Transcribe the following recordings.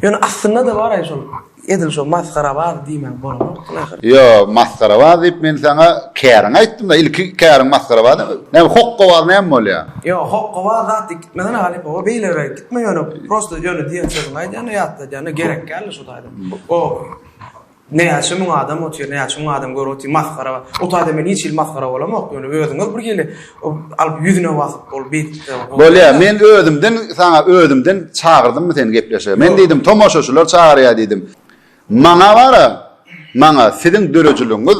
Ýöne aslynda-da bar-aý şol edil şo masgarabaz diýmäge bolanok laýyk. Ýo, masgarabaz diýip men saňa käriňi aýtdym-da, ilki käriň masgarabaz. Näme hokkabaz näme bolýa? Ýo, hokkabaz zat diýip gitmesene halypa, o beýleräýip gitme ýöne prosta ýöne diýen sözüňi aýdýan-da ýatladýan-da, gerekgäl-de şo taýdan. O. Näçe müň adam otyr, näçe müň adam görüp otyr, masgara bar. O taýda men hiç hili masgara bolamok, ýöne özüňiz bir gelip, alyp ýüzüne basyp, ol beýtip de bolýar. Bolýar, men özümden, saňa özümden çagyrdymmy seni gepleşige? Men diýdim, tomaşaçylar çagyrýar diýdim. Maňa bar-a, maňa siziň döredijiligiňiz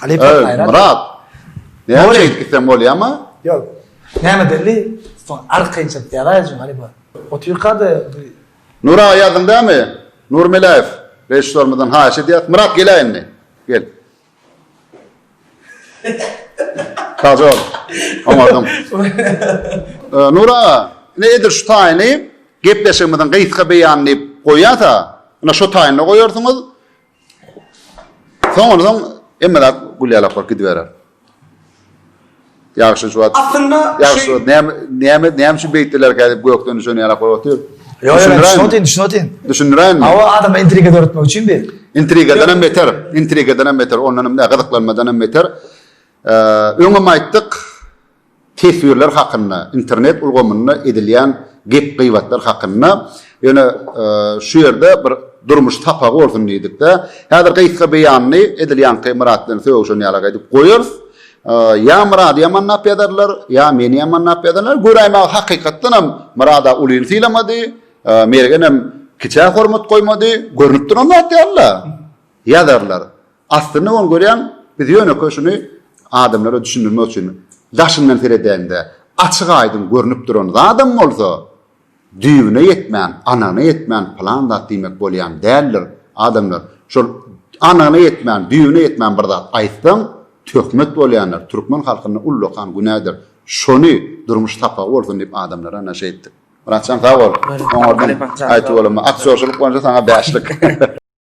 Halypa Gaýrat. Myrat. Näçe gitsem bolýama? Ýok. Näme belli? Soň arkaýyn çykyp ýazaýjyň halypa. Otyrkada bir Nura ýazdyň dämi? Nur Meläýew režissýorymyzdan haýyş edýäs. Myrat geläý indi. Gel. Kajol. Oňardyň. Nur aga, ine edil şu taýyny gepleşigimiziň gysga beýany diýip goýýas-a. Ine şu taýynda goýarsyňyz. Soň ondan hemme zat gülýälap bolup gidiberer. Ýagşy şu wagt. Aslynda ýagşy näme näme näme üçin beýtdilerkä diýip gökden düşen ýalak bolup otyr. Ýok, şuny otyň, şuny otyň. Düşündiräýinmi? Hawa, adama intriga döretmek üçin bi. Intrigadan hem beter, intrigadan hem beter, ondan hem gyzyklanmadan hem beter. Öňem aýtdyk. teswirler hakynda, internet ulgamynda edilýän gep-gybatlar hakynda, ýöne şu ýerde bir durmuş sapagy bolsun diýdik-de, häzir gysga beýanly edil ýaňky Myrat bilen sögüşen ýalak edip goýarys. Ýa Myrady ýamanlap ýazarlar, ýa meni ýamanlap ýazarlar. Göräýmäge hakykatdan hem Myrada ulyny sylamady, Mergenem kiçä hormat goýmady, görnüp duran zat ýaly-la. Ýazarlar. Aslynda ony görýän biz ýönekeý şuny adamlara düşündirmek üçin daşyndan seredäýiňde açyk aýdyň görnüp duran zadam bolsa düýbüne ýetmän anygyna ýetmän pylan zat diýmek bolýan däldir adamlar şol anygyna ýetmän düýbüne ýetmän bir zat aýtsaň töhmet bolýandyr türkmen halkynda ullakan günädir şony durmuş sapagy bolsun diýip adamlara naşe etdik Myratjan sag bol oňardan aýtyp bolanma aktýorçylyk boýunça saňa bäşlik.